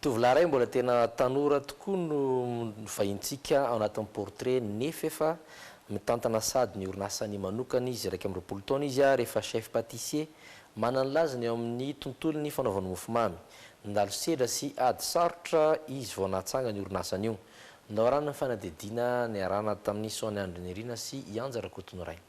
Tovolahy iray mbola tena tanora tokoa no vahintsika ao anatin'ny portrait nef efa mitantana sad ny orinasany manokana izy, iraika amby roapolo taona izy ary efa chef patissier manana ny lazany eo amin'ny tontolon'ny fanaovana mofomamy. Nandalo sedra sy ady sarotra izy vao nahatsangana io orinasany io. Naorana ny fanadihadiana niarahana tamin'i Sonia Andry Nirina sy i Anja Rakotonirainy.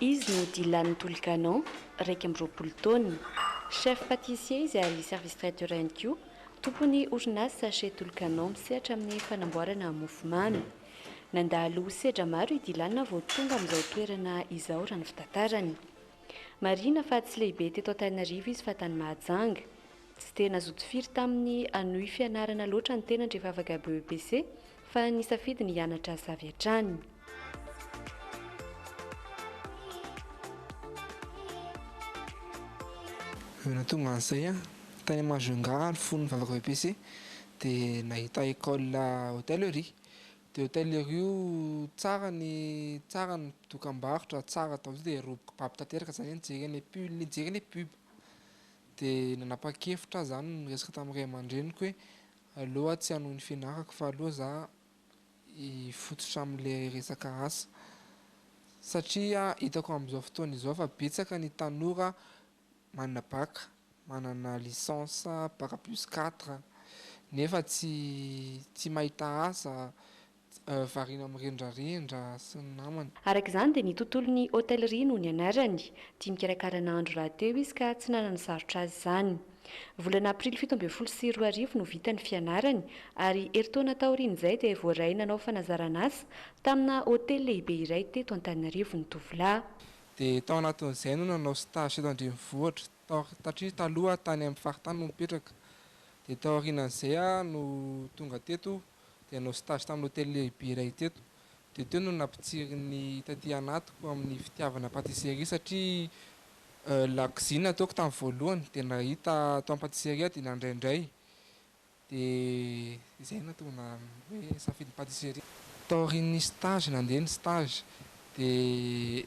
Izy no Dylan Tolikanon, iraika amby roapolo taona. Chef patissier izy ary service traiteur ihany koa. Tompon'ny orinasa Chez Tolikanon misehatra amin'ny fanamboarana mofomamy. Nandalo sedra maro i Dylan vao tonga amin'izao toerana izao raha ny fitantarany. Marihina fa tsy lehibe teto Antananarivo izy fa tany Mahajanga. Tsy dia nazoto firy taminy hanohy fianarana loatra ny tenany rehefa afaka BEPC fa nisafidy ny hianatra asa avy hatrany. Vao nahatonga an'izay aho, tany Majunga ary fony nivavaka BEPC dia nahita école hôtellerie Dia io tailleur io tsara ny tsara ny dokam-barotra tsara tao dia robe kibabo tanteraka zany hoe nijery any pull nijery any pub dia nanapa-kevitra aho zany niresaka tamin'ny ray aman-dreniko hoe aleo aho tsy hanohy ny fianarako fa aleo za hifototra amin'le resaka asa satria hitako amin'izao fotoana izao fa betsaka ny tanora manana bac, manana licence bac plus quatre nefa tsy tsy mahita asa, variana mirendrarendra sy ny namany. Araka izany dia ny tontolon'ny hôtellerie no nianarany. Tia mikarakara nahandro rahateo izy ka tsy nanana sarotra azy izany. Volana aprily fito ambin'ny folo sy roa arivo no vita ny fianarany ary herintaona taorian'izay dia voaray nanao fanazaran'asa tamina hôtely lehibe iray teto Antananarivo ny tovolahy. Dia tao anatin'izay no nanao stage eto an-drenivohitra, tao tatria taloha tany amin'ny faritany no mipetraka. Dia tao aorianan'izay aho no tonga teto dia nanao stage tamin'ny hotely lehibe iray teto. Dia teo no nampitsirin'ny taty anatiko amin'ny fitiavana patisserie satria lakozia no nataoko tamin'ny voalohany dia nahita tao amin'ny patisserie aho dia nandray indray. Dia izay no tonga na hoe safidy patisserie. Taorian'ny stage nandeha ny stage dia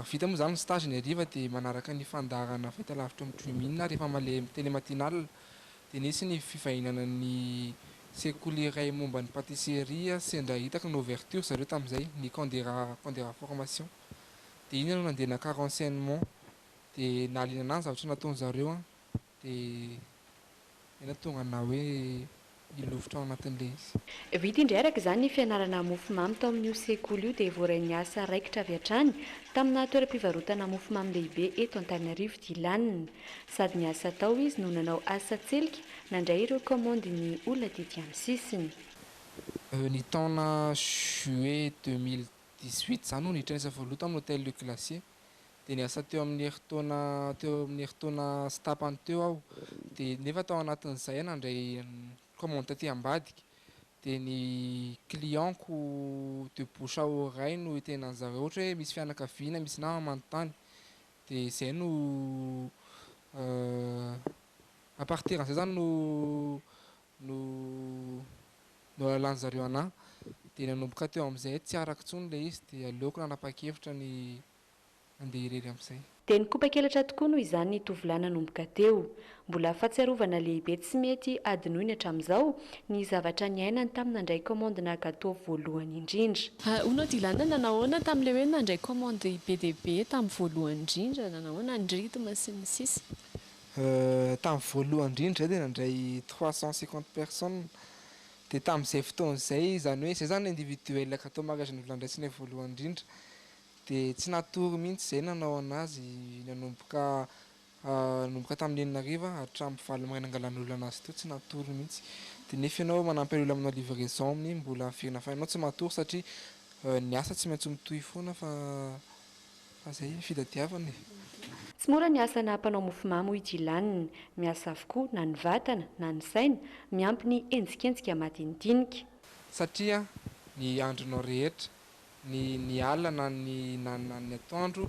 vita moa izany ny stage ny hariva dia manaraka ny fandaharana fahita lavitra amin'ny Dream in rehefa maleha tele matinale dia nisy ny fivahinana ny sekoly iray momba ny patisserie sendra hitako ny ouverture zareo tamin'izay ny camp de ra camp de ra formation dia iny aho no nandeha naka renseignement dia nahaliana anah ny zavatra nataon'zareo an! Dia ela tonga na hoe hilofotra ao anatin'ilay izy. Vita indray araka izany ny fianarana mofomamy tao amin'io sekoly io dia voarain'ny asa raikitra avy hatrany tamina toeram-pivarotana mofomamy lehibe eto Antananarivo ity laniny. Sady niasa tao izy no nanao asa tselika nandray ireo kaomandin'ny olona tety amin'ny sisiny. Ny taona juillet deux mille dix-huit izany no nihiitra ny asa voaloha tamin'ny Hotel Le Glacier. dia niasa teo amin'ny herintaona teo amin'ny herintaona sy tapany teo aho dia nefa tao anatin'izay aho nandray commande taty ambadika dia ny client-ko de bouche à oreille no itenenan'ny zareo ohatra hoe misy fianakaviana misy nama manontany dia izay no à partir an'izay zany no no nohalalan'zareo anah dia nanomboka teo amin'izay tsy arako intsony ilay izy dia aleoko nanapa-kevitra ny handeha irery amin'izay. Dia nikopakelatra tokoa noho izany ny tovolahy nanomboka teo. Mbola fahatsiarovana lehibe tsy mety hadinoiny hatramin'izao ny zavatra niainany tamin'ny nandray kaomandina gateau voalohany indrindra. Hono ity ilana nanao ahoana tamin'ilay hoe nandray kaomandy be dia be tamin'ny voalohany indrindra, nanao ahoana ny rythme sy ny sisa. Tamin'ny voalohany indrindra izay dia nandray trois cent cinquante personnes, dia tamin'izay fotoana izay, izany hoe izay izany individuel gâteau mariage novolan-dRaitsinay voalohany indrindra, dia tsy natory mihitsy izay nanao an'azy nanomboka nanomboka tamin'ny enina hariva hatramin'ny valo maraina nangalan'olona an'azy teo, tsy natory mihitsy, dia nefa ianao manampy an'olona manao livraison amin'iny mbola haverina fa ianao tsy matory satria ny asa tsy maintsy mitohy foana fa Fa zay ny fitadiavana e. Tsy mora ny asana mpanao mofomamy hoy Dylan. Miasa avokoa na ny vatana na ny saina, miampy ny henjikenjika madinidinika. Satria ny andronao rehetra, ny ny alina na ny na na ny atoandro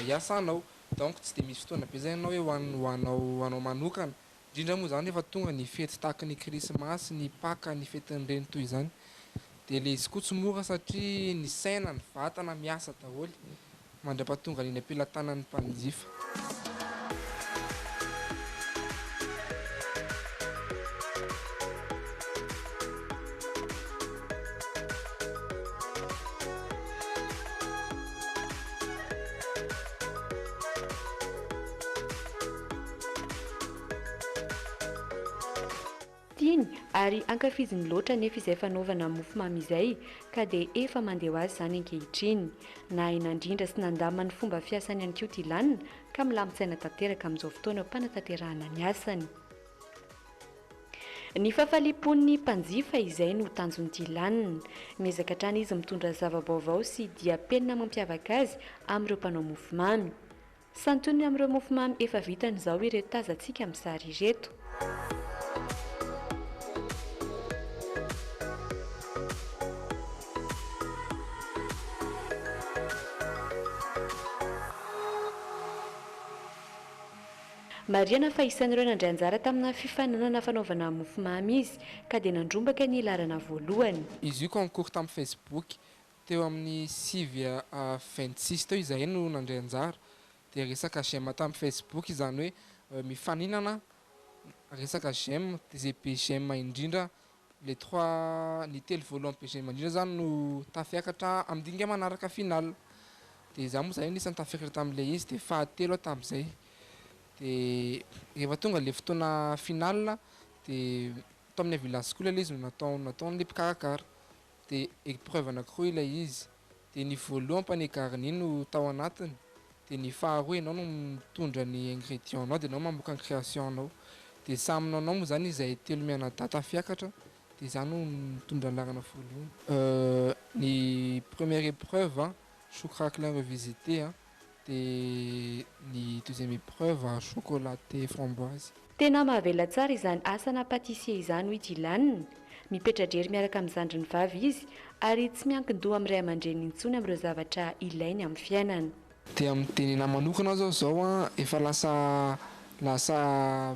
iasanao. Donc tsy dia misy fotoana be zany ianao hoe ho anao ho anao manokana Indrindra moa izany rehefa tonga ny fety tahaka ny Krismasy, ny Paka, ny fetin'ny reny toy izany. Dia ilay izy koa tsy mora satria ny saina, ny vatana miasa daholo mandra-pahatongan' iny am-pelatanan'ny mpanjifa. Tiany ary ankafiziny loatra anefa izay fanaovana mofomamy izay ka dia efa mandeha ho azy izany ankehitriny. Nahay nandrindra sy nandamina ny fomba fiasany ihany koa Dylan ka milamin-tsaina tanteraka amin'izao fotoana fanatanterahana ny asany. Ny fahafaliam-pon'ny mpanjifa izay no tanjon'i Dylan. Miezaka hatrany izy mitondra zava-baovao sy diam-penina mampiavaka azy amin'ireo mpanao mofomamy. Santioniny amin'ireo mofomamy efa vitany izao ireto tazantsika amin'ny sary ireto. Marihana fa isan'ireo nandray anjara tamina fifaninanana fanaovana mofomamy izy, ka dia nandrombaka ny laharana voalohany. Izy io concours tamin'ny Facebook. Teo amin'ny sivy à vingt six teo izahay no nandray anjara, dia resaka j'aime tamin'ny facebook izany hoe mifaninana resaka j'aime, dia izay be j'aime indrindra, les trois, ny telo voalohany be j'aime indrindra izany no tafiakatra amin'ny dinika manaraka final, dia izaho moa izany anisan'ny tafiakatra tamin'ilay izy, dia fahatelo aho tamin'izay, dia rehefa tonga ilay fotoana final dia tao amin'ny Avila school ilay izy no natao, nataon'ilay mpikarakara. dia épreuve anakiroa ilay izy, dia ny voalohany panier garni no tao anatiny, dia ny faharoa ianao no mitondra ny ingrédients nao dia ianao mamoaka ny création nao, dia samy nanao moa izany izahay telo mianadahy tafiakatra, dia izaho no nitondra ny laharana voalohany. Ny première épreuve an, choux craquelin revisité an, Dia ny deuxième épreuve chocolate framboise. Tena mahavela tsara izany asana patissier izany hoy Dylan. Mipetra-drery miaraka amin'ny zandriny vavy izy ary tsy miankin-doha amin'ny ray aman-dreniny intsony amin'ireo zavatra ilainy amin'ny fiainana. Dia miteny anahy manokana aho izao izao an, efa lasa lasa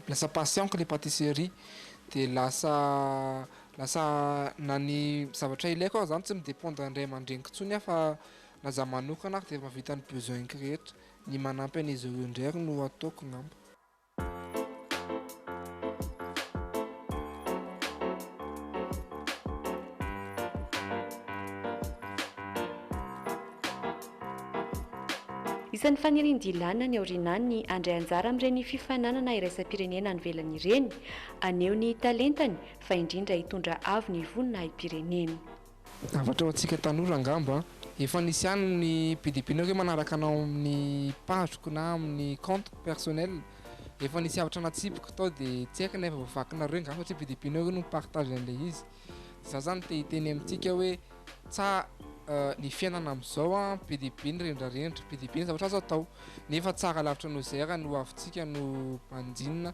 lasa passion-ko ilay patisserie. Dia lasa lasa na ny zavatra ilaiko aza izany tsy mi-dépendre an'ny ray aman-dreniko intsony aho fa Na za manokana ary dia efa vita ny besoin-ko rehetra, ny manampy an'izy ireo indray ary no ataoko ngamba. Isan'ny fanirian'i Dylan any aoriana any ny handray anjara amin'ireny fifaninanana iraisam-pirenena any ivelany ireny, haneho ny talentany fa indrindra hitondra avo ny voninahim-pireneny. Zavatra ho antsika tanora angamba an! Efa nisy ihany ny mpidimpinao ve manaraka anao amin'ny page-ko na amin'ny compte-ko personnel? Efa nisy zavatra natsipiko tao de tsy haiko na efa voavakinareo nga satria mpidimpinao ve no mi-partage an'ilay izy? De za zany te hiteny amintsika hoe tsa ny fiainana am'zao an, be dia be ny rendrarendra, be dia be ny zavatra azo atao nefa tsara lavitra noho izay ary ny hoavintsika no banjinina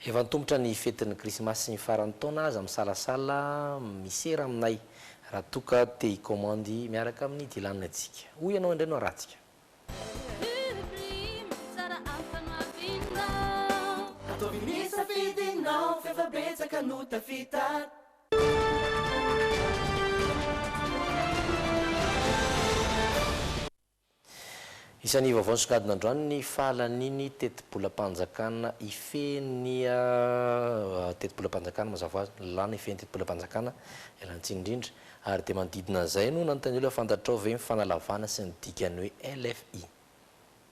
Efa antomotra ny fetin'ny krismasy sy ny faran'ny taona aza misalasala misera aminay raha toa ka te hikaomandy miaraka amin'ny Dylan antsika. Hoy ianao indray no arahantsika. Ataovy ny safidinao f'efa betsaka no tafita. Isan'ny vaovao nisongadina androany ny fahalanian'ny tetibolam-panjakana Ifehy tetibolam-panjakana mazava ho azy, nilàna Ifehy ny tetibolam-panjakana, ialana tsiny indrindra. Ary dia manodidina an'izay no nanontaniana hoe fantatrao ve ny fanalavana sy ny dikan'ny hoe LFI?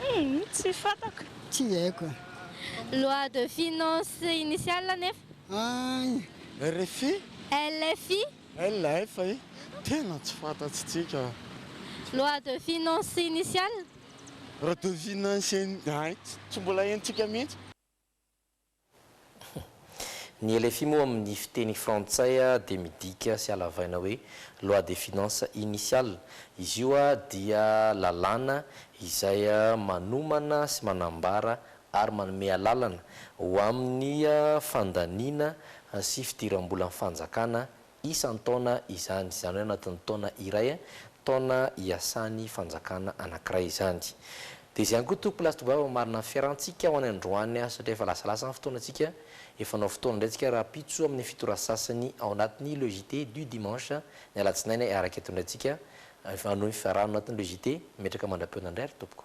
Humm tsy fantako. Tsy haiko e. Loi de finance initiale nefa. Ay, rfi? LFI? LFI? Tena tsy fantatsitsika. Loi de finance initiale? Loi de finance in, ay, tsy mbola henontsika mihitsy. Ny LFI moa amin'ny fiteny frantsay dia midika sy halavaina hoe Loi des finances initiales. Izy io dia lalàna izay manomana sy manambara ary manome alalana ho amin'ny fandaniana sy fidiram-bolan'ny fanjakana isan-taona izany, izany hoe anatin'ny taona iray, taona iasan'ny fanjakana anankiray izany. Dia izay ihany koa tompoko lahy sy tovovavy hamarina ny fiarahantsika ho any androany satria efa lasalasa ny fotoanantsika, efa hanao fotoana indray isika rahampitso amin'ny fito ora sasany ao anatin'ny Le JT du dimanche, ny alatsinainy araka eto indray isika hanohy ny fiarahana ao anatin'ny Le JT, metraka mandra-pihaonana indray ry tompoko.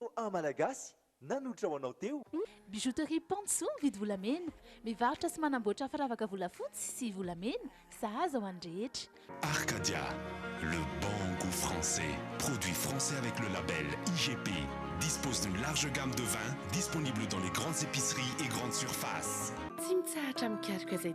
Roa Malagasy nanolotra ho anao teo. Bijouterie Pantso mividy volamena. Mivarotra sy manamboatra firavaka volafotsy sy volamena, sahaza ho an'ny rehetra. Arcadia, le bon gout français, produit français avec le label IGP, dispose d'une large gamme de vins disponible dans les grandes épiceries et grandes surfaces. Tsy mitsahatra mikaroka izay